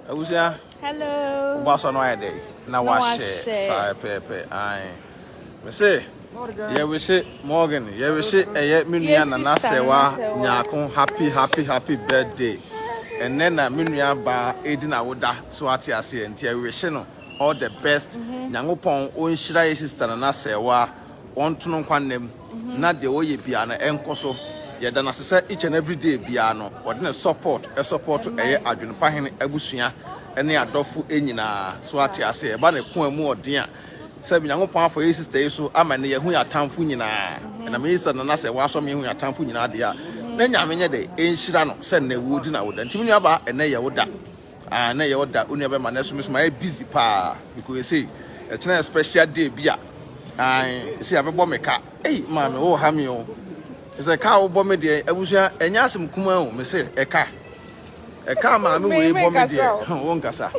Abusua. Hello. Ɔbɔ asɔ no ayɛ dɛ na wahyɛ saa pɛpɛpɛ. Ae. Me se yɛwehye Morgan, yɛwehye ɛyɛ me nua nana sɛwa nyaako happy happy happy birthday. Ɛnɛ na me nua baa edi na woda so ate aseɛ nti ɛwehye no all the best. Mhm. Nyankopɔn ɔnhyira yɛ sister nana sɛwa ɔntono nkwa nna mu. na deɛ ɔyɛ biara no ɛnkɔ so. Yɛda no ase sɛ each and every day biara no ɔde ne support support ɛyɛ Adwene Pa Hene abusua ne adɔfo nyinaa. So ate aseɛ? Ɛba ne koa mu ɔden a sɛ Nyankopɔn afa yɛn sister yi so ama ne yɛahu yɛn atamfo nyinaa. Ɛnam yɛn sister Nana sɛ wɔasɔ me ahu yɛn atamfo nyinaa deɛ a, na Nyame nyɛ dɛ ɛnhyira no sɛ nnɛ wodi n'awoda. Nti me nuabaa ɛnnɛ yɛ wo da. Ah na ɛyɛ ɔda onua bɛma nɛso meso mayɛ busy paa because ɛsei ɛkyena yɛ special day bi a ae ɛsei abɛbɔ me ka ei maame wo ha me o ɛsɛ ka wo bɔ me deɛ abusua ɛnyɛ asɛm kuma o mese ɛka ɛka maame wei bɔ me deɛ wo nkasa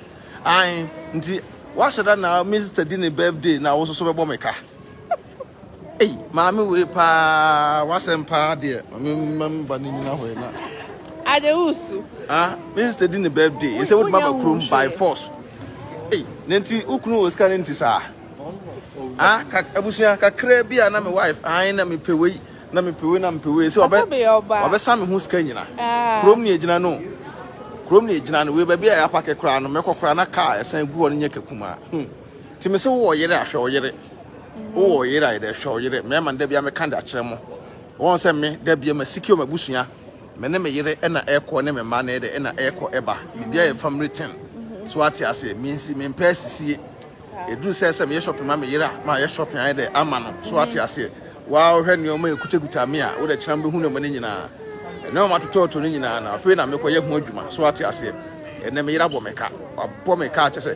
ae nti wahyɛ da na Mister di ne birthday na wo soso bɛbɔ me ka Ei, maame wei paa wasɛm paa deɛ maame mam ba ne nyina hɔ na ade wusu ah minsta di ne birthday ɛsɛ wode maba kurom by force ei ne nti wokunu wɔ sika ne nti saa ah abusua kakra bi a na me wife an na mepɛ wei na mepɛ wei na mepɛ wei sɛ ɔbɛ ɔbɛsa me ho sika nyina ah. kurom ne ɛgyina no kurom ne ɛgyina no wei baabi a yɛapake koraa no mɛkɔ koraa na kaa ɛsan gu hɔ no nyɛ kakuma hmm. Nti mese wowɔ ɔyere a hwɛ ɔyere wowɔ ɔyere a yɛdɛ hwɛ ɔyere mɛma no da bia meka de akyerɛ mo wɔn sɛ me da bia ma sikio ma busua me ne me yere ɛna ɛkɔ ne me mma na yɛdɛ ɛna ɛkɔ ɛba bibia yɛ family ten so ate aseɛ mensi mempɛ asisie ɛduru sɛ sɛ meyɛ shopping ma me yere a ma yɛ shopping ayɛ dɛ ama no so ate aseɛ waa wohwɛ nneɛma ɛkutakuta me a wodɛ kyerɛ mbɛhu nneɛma no nyinaa ɛnɛ ɔma totɔɔtɔ no nyinaa na afei na mekɔyɛ ho adwuma so ate aseɛ ɛnɛ me yere abɔ me ka wabɔ me ka kyɛ sɛ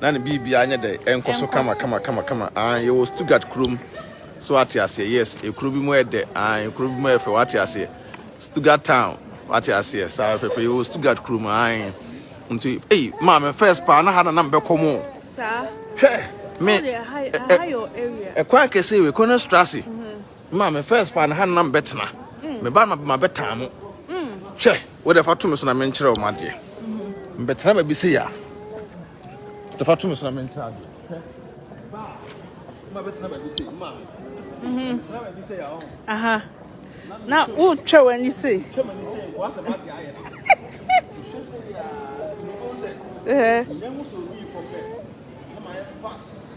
na ne biribiara nyɛ dɛ, ɛnkɔ so kama kama kama kama, aane, yɛwɔ Stuttgart kurom, so wate aseɛ, yes, ekuro bi mu ɛyɛ dɛ, aane, ekuro bi mu ɛyɛ fɛ, wate aseɛ, Stuttgart town, wate aseɛ, saa pɛpɛ, yɛwɔ Stuttgart kurom, aane, nti, ei, maame, first paa, na ha na na mebɛkɔ mo, hwɛ, me, ɛkwan kɛseɛ wei, Königstrasse, Ma me first pa no ha na mebɛtena meba na mabɛtaa mo hwɛ wode fa to me so na menkyerɛ wo madeɛ mbɛtena baabi sɛ yɛ a de fa to me so na menkyerɛ adeɛ aha na wotwa w'ani sei twa m'ani sei nkɔ asɛ madeɛ ayɛ no twa sɛ yɛ a ɛhɛ nyɛ mu sɛ obi fɔ fɛ na mayɛ fast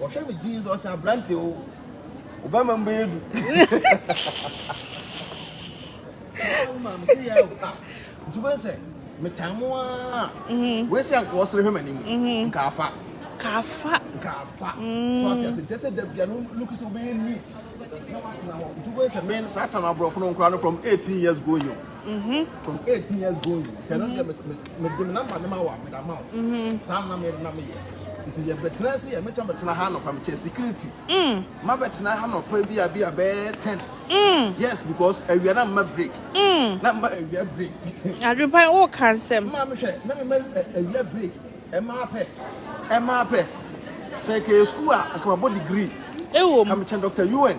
Ɔhwɛ me jeans ɔse abrante o wo bɛma mu bɛyɛ du yaa wo maame se yaa o ah nti wobɛhu sɛ metaa mo aa wei se anka ɔsere hwɛ m'anim nka afa nka afa nka afa so ate ase nkyɛ sɛ da bia no look sɛ wobɛyɛ neat na watena hɔ nti wobɛhu sɛ me no saa tam aborɔfo no nkora no from 18 years going o. Mm-hmm. From 18 years going. Tell mm-hmm. them me me number them our me them out. Mm-hmm. Some na me na me yeah. Nti yɛ bɛtena se yɛ mɛtwa bɛtena ha nɔpa mekyɛ security. Mm. Ma bɛtena ha nɔpa bi a bi a bɛyɛ ten. Mm. Yes because awia na mma break. Mm. Na mma awia break. Adwepa wo ka nsɛm. Maa mi hwɛ na mi mɛ awia break ɛmaa pɛ ɛmaa pɛ sɛ kɛyɛ sukuu a nkamabɔ degree. Ewo mu. Kamikyɛn Dr. UN.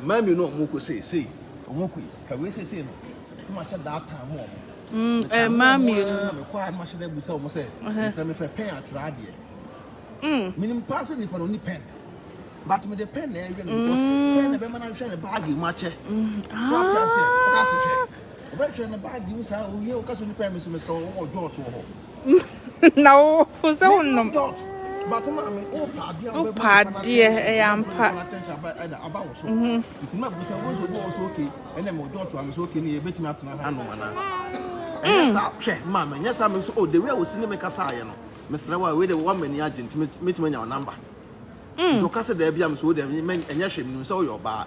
Mmaa mmienu a wɔkɔ seesei. Wɔkɔ yi, ka wei seesei no, na mahyɛ da ataa mo wɔn. Mm, Metaa mo mmaa wɔn mmienu. ara, mekɔ a na mahyɛ da abisa wɔn sɛ, Ɛhɛ. sɛ mepɛ pɛn atwerɛ adeɛ. Mm, Menim paa sɛ nipa no ɔnni pɛn, but mede pɛn na ɛyɛ no because pɛn na ɛbɛma no ahwɛ ne baage mu akyɛ. So ate aseɛ? Woka se hwɛ, ah, ɔbɛhwɛ ne baage mu saa, owie a, woka sɛ ɔnni pɛn, me nso mesrɛ wo, wowɔ George wɔ hɔ? na wo sɛ wonom wopɛ adeɛ ɛyɛ ampa mesrɛ wo a wei de wɔma ani agye nti mɛtumi anya wo namba nti ɔka sɛ daabi a mesɛ wo daabi ɛnyɛ hwɛ menim sɛ woyɛ ɔbaa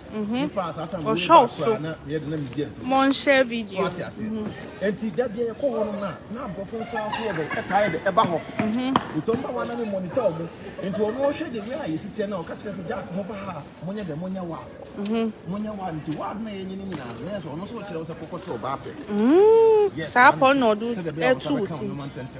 Mhm. Ɔhwɛ so. Mo nhyɛ video. Mhm. Enti da bia yɛkɔ hɔ no na na abrɔfo nkora nso yɛ dɛ ɛtaa yɛ dɛ ɛba hɔ. Mhm. Wotɔm ba wa na me monitor ɔmo. Enti ɔno ɔhwɛ de wia a yɛsi tiɛ na ɔka kyerɛ sɛ Jack mo ba ha mo nyɛ dɛ mo nyɛ wa. Mhm. Mo nyɛ wa nti wa na yɛ nyini nyina na yɛ so ɔno so ɔkyerɛ sɛ kɔkɔ sɛ ɔba apɛ. Mhm. Yes. Saa pɔ na ɔdo ɛtu wo ti.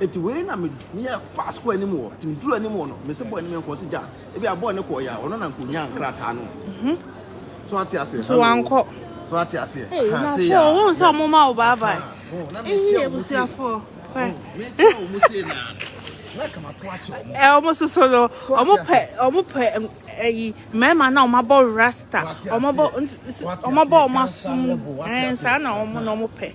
Enti wei na me meyɛ fast kɔ anim wɔ nti meduru anim wɔ no mese bɔɔ anim nkɔ ɔse gya ebi a bɔɔ ne kɔɔ yɛ a ɔno na nka onyaa nkrataa no so ate aseɛ nti wankɔ so ate aseɛ ee na sɛ ɔhu sɛ ɔmo ma wo bye bye eyi abusuafoɔ mekyɛ ɔmo se na na kama to akyɛ ɔmo ɛ ɔmo soso no ɔmo pɛ ɔmo pɛ ɛyi mmarima na ɔmo abɔ rasta ɔmo bɔ ɔmo bɔ ɔmo asom ɛn saa na ɔmo na ɔmo pɛ.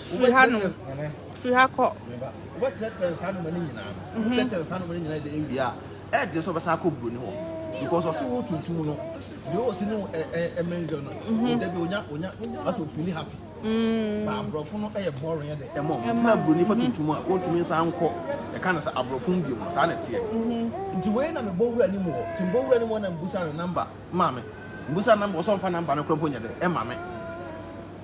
Firi ha nom. Firi ha kɔ. Wobɛkyerɛkyerɛ saa nneɛma no nyinaa no. Mhm. Wobɛkyerɛkyerɛ saa nneɛma no nyinaa de awie a, ɛyɛ den sɛ ɔbɛsan akɔ buroni hɔ. Because ɔse wo tuntum no, deɛ ɔsi ne wo ɛ- ɛ- ɛmɛngɛ no, mhm. ɔda bi onya onya asɛ ofili happy. Mm. Ba aborɔfo no ɛyɛ boring ɛde ɛma ɔmo. Nti na buroni fa tuntum a ɔntumi nsan nkɔ ɛka no sɛ aborɔfo mu bio no saa na ɛteɛ. Mhm. Nti wei na mebɔ wura no mu hɔ. Nti mebɔ wura no mu hɔ na mbusa no namba ma me. Mbusa namba ɔsɛ ɔmfa namba no kora mpo nyɛ dɛ ɛma me.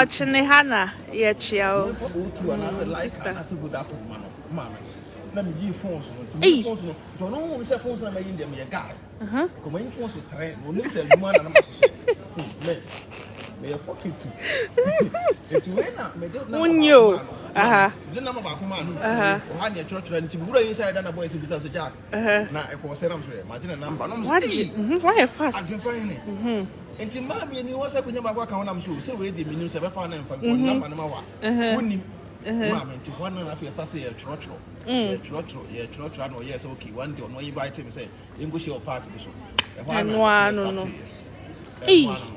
Ɔkyene ha na yɛkyea o. Wonni o. Aha. Aha. Uh-huh. Na ɛkɔ sɛ nam so yɛ magye ne namba nom sɛ ei mhm, wayɛ fast adepa hene mhm. nti mmaa mmienu wɔ sɛ konya baako aka ho nam so sɛ wei de menim sɛ bɛfa no mfa mhm. namba no ma wa uh-huh. wonim maame nti hɔ no na afei ɛsa sɛ yɛtwerɛtwerɛ mm. yɛtwerɛtwerɛ yɛtwerɛtwerɛ na ɔyɛɛ sɛ okay one day ɔno ayi bae kyɛ me sɛ yɛnkɔhyia wɔ park bi so ɛhɔ ano no no ɛhɔ ano no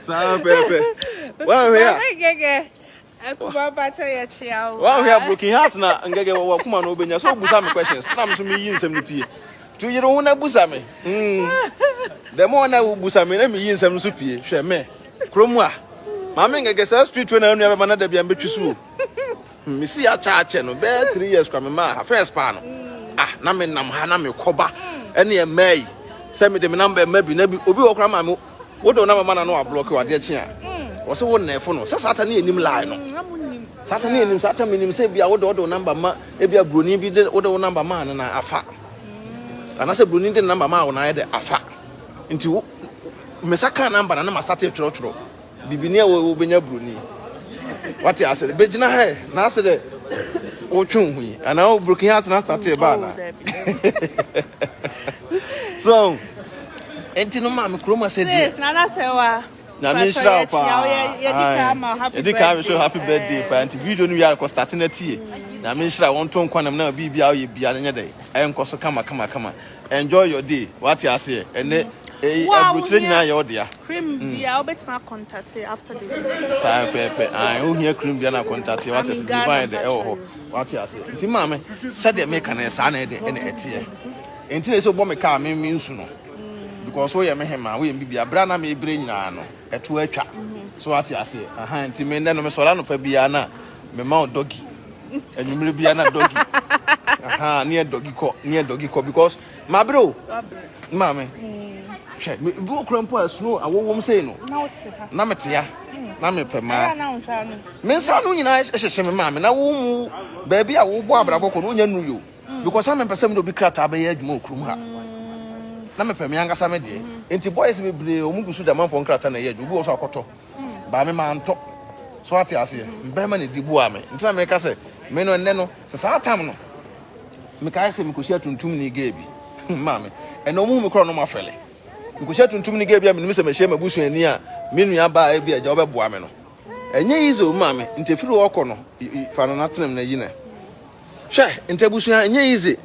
saa pɛpɛ wahwɛ a ngɛgɛ akuba bakyɛ yɛ kyea o wahwɛ a broken heart na ngɛgɛ wɔ wakuma na obenya so obusa me questions na me so me yi nsɛm no pie to yere ho na busa me mm the more na wo busa me na me yi nsɛm no so pie hwɛ me krom a maame ngɛgɛ saa street we na anua bɛma na da bia mbetwi so o Me si ha kyɛ akyɛ no bɛyɛ three years kora me maa ha first paa no ah na me nam ha na me kɔba ɛne ɛmaa yi sɛ me de me nam bɛ ma bi na bi obi wɔ kora maa me wo de wo nam ma na no ablɔki wɔ adeɛ kye a wɔ se wo nɛɛfo no sɛ saa ta ne anim lie no saa ta ne anim saa ta me nim sɛ bi a wo de wo de wo namba ma ebi a broni bi de wo de wo namba maa no na afa anaasɛ broni de ne namba maa wo na ayɛ de afa nti wo mesa kaa namba na na masate twerɛtwerɛ Bibini a wo bɛnya broni wate ase bɛgyina ha na ase dɛ wotwe wo ho yi anaa wo broken heart na start ɛba anaa so ɛnti no maame kurom asɛ deɛ sis nana sɛ wa nyame nhyira wo paa yɛdi kaa me so happy birthday paa nti video no wiare kɔ start na tie nyame nhyira wɔn to nkwanam na biribi a woyɛ bia no nyɛ dɛ ɛnkɔ so kama kama kama Enjoy your day wate aseɛ ɛnɛ ei aburokyire nyinaa yɛ wo dea. Cream bia wobɛtumi akɔntate after the video. Saa pɛpɛ ae wo hia cream bia na kɔntate wate aseɛ divine de ɛwɔ hɔ wate aseɛ nti maame sɛdeɛ meka no saa na ɛde ɛna ɛteɛ nti na ɛsɛ wobɔ me kaa me me nsu no because woyɛ me hemaa woyɛ me bibia berɛ a na mebrɛ nyinaa no. ɛto atwa so wate aseɛ aha nti me nnɛ no mesɔre anɔpa biara na mema wo dɔgi anwummere biara na dɔgi aha ne yɛ dɔgi kɔ ne yɛ dɔgi kɔ because mabere o maame hwɛ me bi okura mpo a snow awowom sei no na metea na mepɛ maa me nsa no nyinaa hyehyɛ me maame na wo mu baabi a wobɔ abrabɔ kɔ no wonya nuru yo Because na mempɛ sɛ mede obi krataa bɛyɛ adwuma wɔ kurom ha. Na mepɛ me ankasa me deɛ. Enti boys bebree wɔn gu so de amanfoɔ nkrataa na ɛyɛ adwuma. Obi wɔ hɔ nso a ɔkɔtɔ. Baa me mantɔ. So wate aseɛ? Mmarima na ɛdi boaa me. Nti na meka sɛ me no ɛnnɛ no sɛ saa tam no mekae sɛ mekɔhyia tuntumni gay bi. Maame, ɛnna wɔhu me korɔ na wɔafɛle. Mekɔhyia tuntumni gay bi a menim sɛ mahyia m'abusuani a me nua baa ebi a agya wobɛboa me no. Ɛnyɛ easy o maame, nti ɛfiri hɔ rekɔ no fa no na tena mu na yi no. Hwɛ nti abusua ɛnyɛ easy.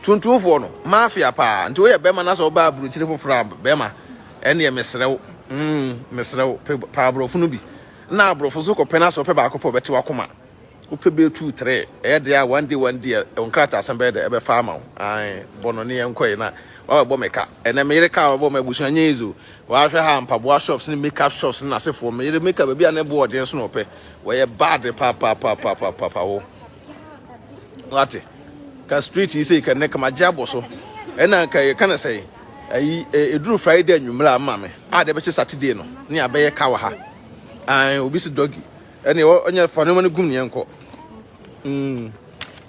Tuntumfoɔ no mafia paa nti woyɛ bɛma na sɛ ɔbaa burukyiri foforɔ a bɛma ɛneɛ mesrɛ wo mm mesrɛ wo pe pa aborɔfo no bi na aborɔfo so kɔpɛ na sɛ ɔpɛ baako pɛ ɔbɛte wakoma wopɛ bɛyɛ two three ɛyɛ deɛ a one day one day nkrataa asɛm bɛyɛ dɛ ɛbɛfa ama wo ae bɔ no ne yɛn kɔe na wabɛbɔ me ka ɛnɛ meyere ka wabɛbɔ me abusua nyɛ easy Wahwɛ ha, mpaboa shops ne makeup shops ne n'asefoɔ. Me yere makeup baabi a ne boɔ ɔden so na ɔpɛ. Wɔyɛ bad papapapapapaapa hɔ. Wate? Ka street yi sei ka nnɛ kama gye abɔ so. Ɛna nka yɛka no sɛ ayi ɛduru Friday anwummerɛ a mma me a de bɛkye Saturday no ne abɛyɛ ka wɔ ha. Ae, obi si doggy. Ɛne ɔnyɛ fa nneɛma no gum ne yɛnkɔ. Mm.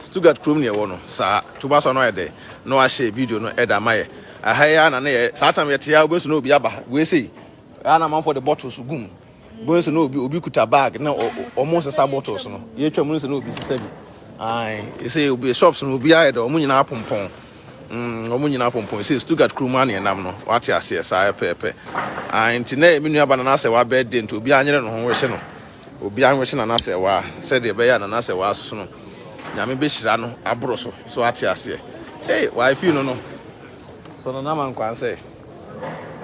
Stuttgart kurom na yɛwɔ no saa. Toba so a na ɔayɛ dɛ na ɔahyɛ video no da ama yɛ. Aha yi ara na na yɛ saa tam yɛtse a wobohu na obi aba ha wei sei. Aha na amanfoɔ de bottles gu mu. Bohu sɛ na obi obi kuta bag na wɔn resesa bottles no. Yɛtwa mu no sɛ na obi sesa bi. Ae, ɛsɛ obi shops no obi ayɛ dɛ wɔn nyinaa pompɔn. Mm, wɔn nyinaa pompɔn. Ɛsɛ Stuttgart kurom a na yɛnam no. Wate aseɛ saa pɛpɛpɛ. Ae, nti na yɛ me nuaba na n'asɛ wabɛɛde nti obi anyere ne ho wɔhyɛ no. Obiara nhwɛ na n'asɛwaa, sɛdeɛ ɛbɛyɛ a na n'asɛwaa so so no, Nyame bɛhyira no aboro so. So woate aseɛ? Ei, wae fii no no. So no, n'ama nkwan sɛ,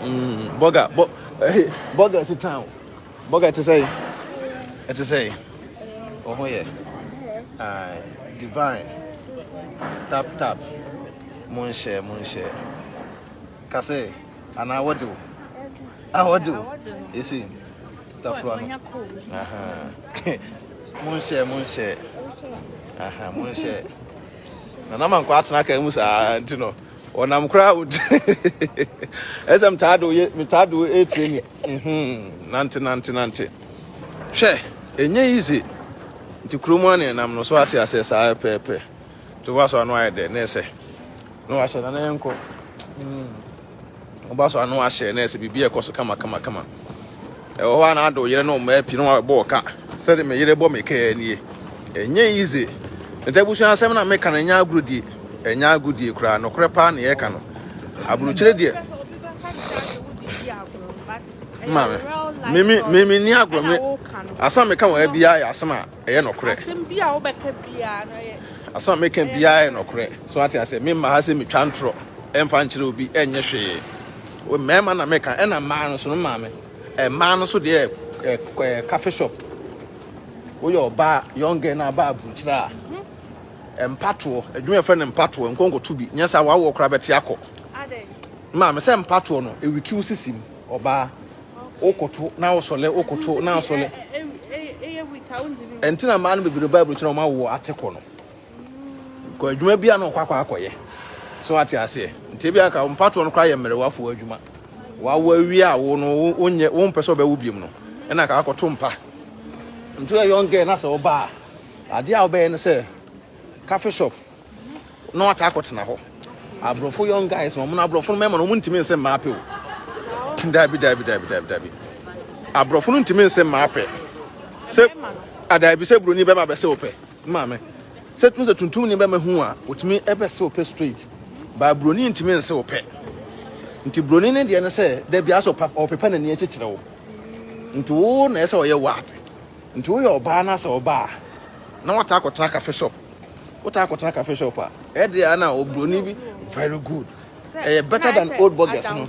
mm, bɔga, bɔ, ɛhe, bɔga si tan o. Bɔga ɛte sɛ, ɛte sɛ, wo ho yɛ, ae, divine, tap, tap, mo nhyɛ, mo nhyɛ. Ka sɛ, anaa wɔde o. Ah, wɔde o. Yɛsɛ yi. Tafua no. Aha. Monhyɛ, monhyɛ. Aha, monhyɛ. Na na mankɔ atena kan mu saa nti no. Ɔnam koraa wo. Ɛsɛ mtaa do yɛ, mtaa do etire ni. Mhm. Nante, nante, nante. Hwɛ, enye easy. Nti kurom ane nam no so ate asɛ saa pɛpɛ. To waso ano ayɛ dɛ na ɛsɛ. No ahyɛ na na yɛnkɔ. Mhm. Woba so a na wahyɛ na ɛsɛ biribi a ɛkɔ so kama kama kama. Ɛwɔ hɔ a na ado yere no mmaa pii na wɔbɔ ɔka. Sɛde me yere bɔ me ka yɛ nie. Ɛnyɛ yize. Ne ta abusua asɛm na meka no ɛnyɛ agorɔdie. Ɛnyɛ agodie koraa. Nokorɛ paa na yɛreka no. Aburukyire deɛ. Maame, mimi mimi ni agorɔ me. Asɛm a meka wɔ ha biara yɛ asɛm a Ɛyɛ nɔkorɛ. Asɛm bi a wobɛka biara no ɛyɛ. Asɛm a meka biara yɛ nɔkorɛ. So ate asɛ me mma ha sɛ metwa ntorɔ ɛmfa nkyerɛ obi ɛnyɛ hwee. Mmarima na meka ɛna mmaa no so no maame. Mmaa no so deɛ ɛɛ cafe shop. Woyɛ ɔbaa young girl na aba aburukyerɛ a. Mhm. Mpatoɔ adwuma ɛfrɛ no mpatoɔ nkɔnkɔto bi nyɛ saa wawoɔ koraa bɛte akɔ. Adɛn. Maame sɛ mpatoɔ no ɛwiki wo sisim ɔbaa. wokoto na wosɔle wokoto na asɔle ɛnti na mmaa no bebree ba aburokyerɛ wɔn awo ate kɔ no kɔ adwuma bi a na ɔkɔ akɔ akɔyɛ so ate aseɛ nti ebi aka mpatoɔ no koraa yɛ mmerɛwafoɔ adwuma wawo awie a wo no wonyɛ wo mpɛ sɛ ɔbɛwo biom no ɛna aka akɔto mpa nti yɛ young girl na sɛ ɔbaa adeɛ a ɔbɛyɛ no sɛ cafe shop na wɔtaa kɔtena hɔ aborɔfo young guys na wɔn no aborɔfo no mmarima no wɔn ntumi nse mmaa pɛ o daabi daabi daabi daabi daabi aborɔfo no ntumi nse mmaa pɛ sɛ adaabi sɛ buroni bɛma bɛsɛ opɛ maame sɛ tun sɛ tuntum ni bɛma hu a otumi ɛbɛsɛ opɛ straight baa buroni ntumi nse opɛ nti buroni ne deɛ ne sɛ dabi asɔ pa ɔpepa n'ani akyekyerɛ wo nti wo na ɛsɛ ɔyɛ wad Nti woyɛ ɔbaa na sɛ ɔba a na wataa kɔtena cafe shop wotaa kɔtena cafe shop a ɛde a na obroni bi very good ɛyɛ better than old burgers no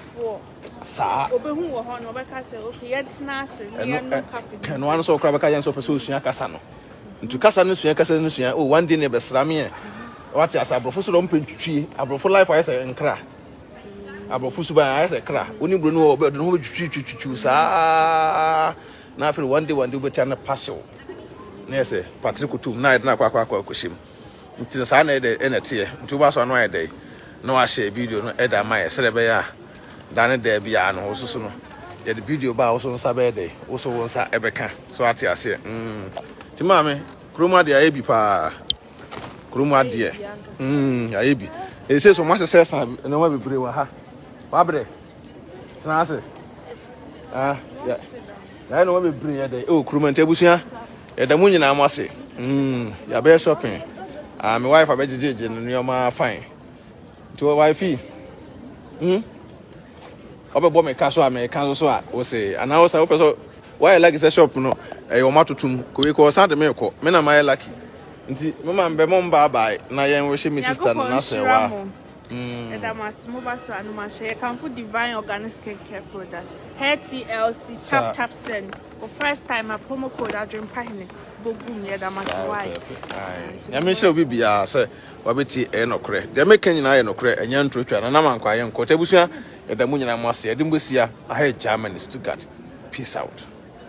saa obehu wɔ hɔ no ɔbɛka sɛ okay yɛntena ase na yɛnom cafe bi ɛno ano sɛ ɔkora bɛka yɛn sɛ ɔpɛ sɛ osua kasa no nti kasa no sua kasa no sua oh one day ne bɛsra me ɛ wate asa aborɔfo so na ɔmpɛ ntwitwie aborɔfo life ayɛ sɛ nkra aborɔfo suban ayɛ sɛ kra wo ne buroni wɔ ɔbɛ ɔde no ho bɛtwitwitwitwiw saa Na afei wɔn de wɔn de wobɛtia no pasew na yɛ sɛ patere kutum na ayɛ dɛn akɔ akɔ akɔ akɔhyɛ mu nti no saa na ɛdɛ ɛna ɛteɛ nti wobɛasɔ ano ayɛ dɛn na wahyɛ video no ɛda ama yɛ sɛdeɛ ɛbɛyɛ a da ne da biara no wososo no yɛde video ba a woso nsa bɛyɛ dɛn woso wo nsa ɛbɛka so ate aseɛ mm. nti maame kurom adeɛ ayɛ bi paa kurom adeɛ mm, ayɛ bi ɛsɛ sɛ ɔmo asesɛ sa nneɛma bebree wɔ ha wabrɛ tena ase ah yɛ yɛayɛ nneɛma bebree yɛ dɛ ɛwɔ kurom nti abusua yɛda mu nyinaa mo ase mm yɛabɛyɛ shopping ah me wife abɛgyegyegye no nneɛma fine nti wɔ wife mm ɔbɛbɔ me ka so a mɛka so so a wose anaa wosa wopɛ so wayɛ lucky sɛ shop no ɛyɛ wɔn atotom kowe kɔ ɔsan de me kɔ me na mayɛ lucky nti mema mbɛ mo mbaabae na yɛn wɔhyɛ me sister no n'asɛwa Yɛda mo ase, mo ba so anom ahyɛ. Yɛkamfo Divine Organic Skin Care Product, Hair TLC, Tap Tap Send. For first time, a promo code Adwempa Hene. Bogum, yɛda mo ase, why? Nyame nhyira obi biara sɛ wabɛti ɛyɛ nɔkorɛ. Deɛ meka nyinaa yɛ nɔkorɛ, ɛnyɛ ntorotwa, na nam ankɔ ayɛ nkɔ. Nti abusua, yɛda mo nyinaa mo ase. Yɛde mo bɛsia, aha yɛ Germany, Stuttgart. Peace out.